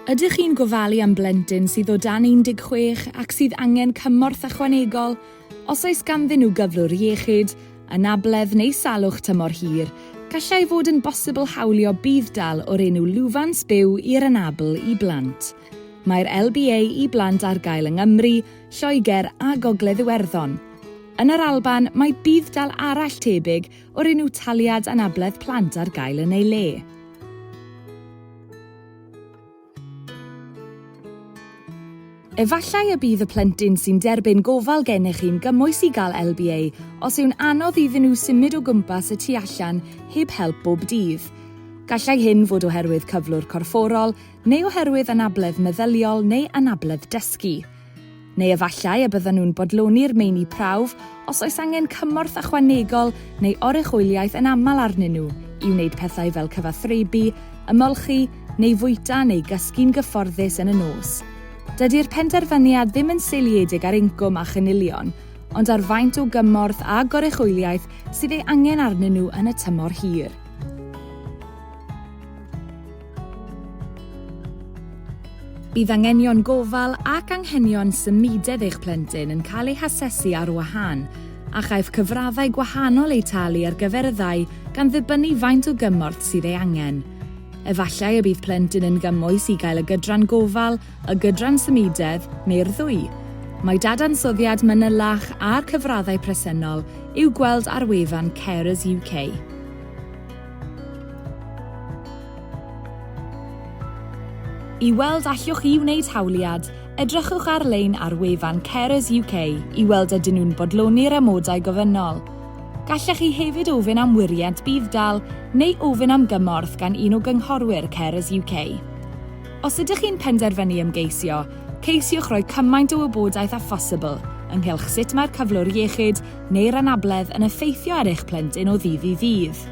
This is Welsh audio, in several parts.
Ydych chi'n gofalu am blentyn sydd o dan 16 ac sydd angen cymorth ychwanegol? Os oes ganddyn nhw gyflwr iechyd, anabledd neu salwch tymor hir, gallai fod yn bosibl hawlio budd-dal o'r enw Lwfans Byw i'r Anabl i Blant. Mae'r LBA i Blant ar gael yng Nghymru, Lloegr a Gogledd Iwerddon. Yn yr Alban, mae budd-dal arall tebyg o'r enw Taliad Anabledd Plant ar gael yn ei le. Efallai y bydd y plentyn sy'n derbyn gofal gennych chi'n gymwys i gael LBA os yw'n anodd iddyn nhw symud o gwmpas y tu allan heb help bob dydd. Gallai hyn fod oherwydd cyflwr corfforol neu oherwydd anabledd meddyliol neu anabledd dysgu. Neu efallai y byddan nhw'n bodloni'r meini prawf os oes angen cymorth ychwanegol neu oruchwyliaeth yn aml arnyn nhw i wneud pethau fel cyfathrebu, ymolchi, neu fwyta neu gysgu'n gyfforddus yn y nos. Dydy'r penderfyniad ddim yn seiliedig ar incwm a chynilion, ond ar faint o gymorth a goruchwyliaeth sydd ei angen arnyn nhw yn y tymor hir. Bydd anghenion gofal ac anghenion symudedd eich plentyn yn cael eu hasesu ar wahân, a chaiff cyfraddau gwahanol eu talu ar gyfer y ddau gan ddibynnu faint o gymorth sydd ei angen. Efallai y bydd plentyn yn gymwys i gael y gydran gofal, y gydran symudedd, neu'r ddwy. Mae dadansoddiad manylach a'r cyfraddau presennol i'w gweld ar wefan Carers UK. I weld allwch chi wneud hawliad, edrychwch ar-lein ar wefan Carers UK i weld ydyn nhw'n bodloni'r amodau gofynnol. Gallech chi hefyd ofyn am wiriant budd-dal neu ofyn am gymorth gan un o gynghorwyr Carers UK. Os ydych chi'n penderfynu ymgeisio, ceisiwch roi cymaint o wybodaeth â phosibl ynghylch sut mae'r cyflwr iechyd neu'r anabledd yn effeithio ar eich plentyn o ddydd i ddydd.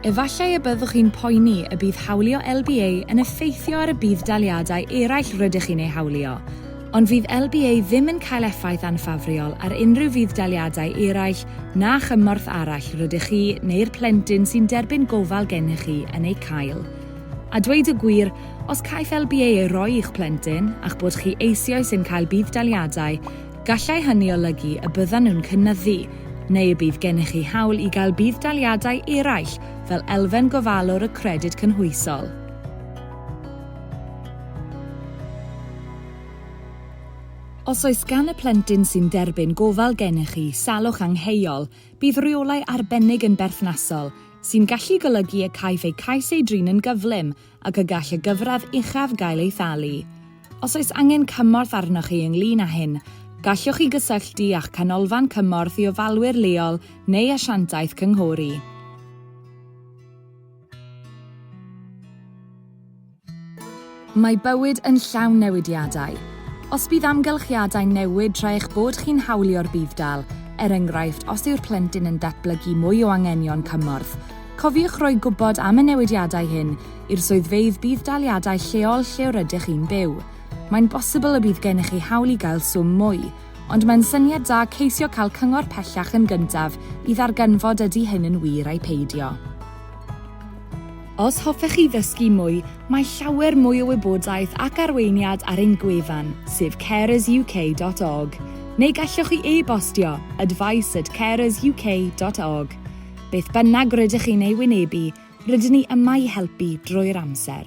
Efallai y byddwch chi'n poeni y bydd hawlio LBA yn effeithio ar y budd-daliadau eraill rydych chi'n eu hawlio, ond fydd LBA ddim yn cael effaith anffafriol ar unrhyw fudd-daliadau eraill na chymorth arall rydych chi neu'r plentyn sy'n derbyn gofal gennych chi yn eu cael. A dweud y gwir, Os caiff LBA ei roi i'ch plentyn, a'ch bod chi eisioes yn cael budd-daliadau, gallai hynny olygu y byddan nhw'n cynyddu, neu y bydd gennych chi hawl i gael budd-daliadau eraill fel elfen gofalwr y Credyd Cynhwysol. Os oes gan y plentyn sy'n derbyn gofal gennych chi salwch angheuol, bydd rheolau arbennig yn berthnasol, sy'n gallu golygu y caiff eu cais ei drin yn gyflym ac y gall y gyfradd uchaf gael ei thalu. Os oes angen cymorth arnoch chi ynglŷn â hyn, gallwch chi gysylltu â'ch Canolfan Cymorth i Ofalwyr leol neu asiantaeth cynghori. Mae bywyd yn llawn newidiadau. Os bydd amgylchiadau'n newid tra eich bod chi'n hawlio'r budd-dal, er enghraifft os yw'r plentyn yn datblygu mwy o anghenion cymorth, Cofiwch roi gwybod am y newidiadau hyn i'r swyddfeydd budd-daliadau lleol lle yr ydych chi'n byw. Mae'n bosibl y bydd gennych chi hawl i gael swm mwy, ond mae'n syniad da ceisio cael cyngor pellach yn gyntaf i ddarganfod ydy hyn yn wir ai peidio. Os hoffech chi ddysgu mwy, mae llawer mwy o wybodaeth ac arweiniad ar ein gwefan, sef carersuk.org, neu gallwch chi e-bostio, advice at carersuk.org. Beth bynnag rydych chi'n ei wynebu, rydyn ni yma i helpu drwy'r amser.